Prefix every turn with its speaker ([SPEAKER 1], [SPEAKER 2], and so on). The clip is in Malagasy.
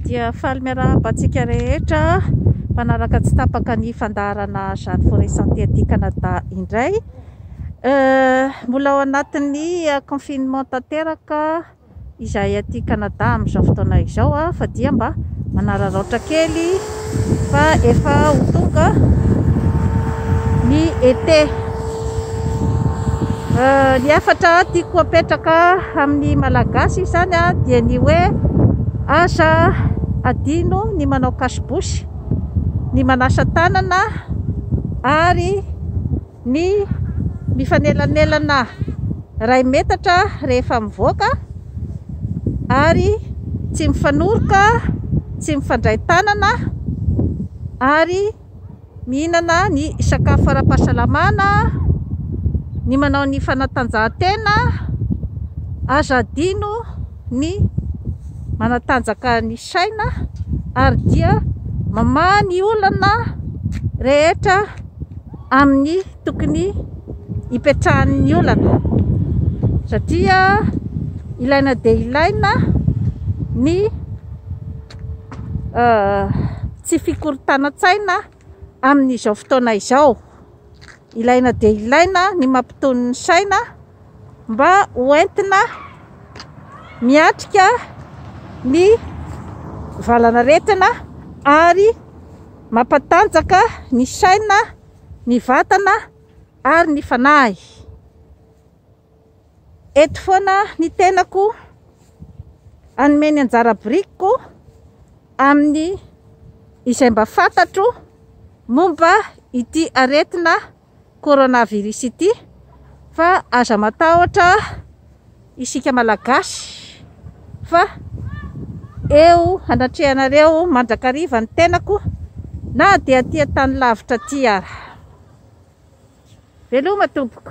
[SPEAKER 1] dia faly miarahaba antsika rehetra mpanaraka tsy tapaka ny fandaharana Jeanne Forêt Santé aty Canada indray. Euh, mbola ao anatin'ny euh, confinement tanteraka izahay aty Canada amin'izao fotoana izao, fa dia mba manararaotra kely. fa efa ho tonga ny été. Euh, ny efatra tiako apetraka amin'ny malagasy izany dia ny hoe aza adino ny manao cache bouche, ny manasa tanana ary ny mifanelanelana iray metatra rehefa mivoaka ary tsy mifanoroka, tsy mifandray tanana ary mihinana ny sakafo ara-pahasalamana, ny manao ny fanatanjahantena, aza adino ny manatanjaka ny saina ary dia mamaha ny olana rehetra. amin'ny tokony hipetrahan'ny olana satria ilaina dia ilaina ny euh, tsy fikorontanan-tsaina amin'izao fotoana izao ilaina dia ilaina ny mampiton'ny saina mba ho entina miatrika ny valanaretina ary mampatanjaka ny saina, ny vatana ary ny fanahy. Eto foana ny tenako hanome ny anjara birikiko amin'ny izay mba fantatro momba ity aretina coronavirus ity fa aza matahotra isika malagasy fa eo anatrehanareo mandrakariva ny tenako na dia aty an-tany lavitra aty ara. Veloma tompoko.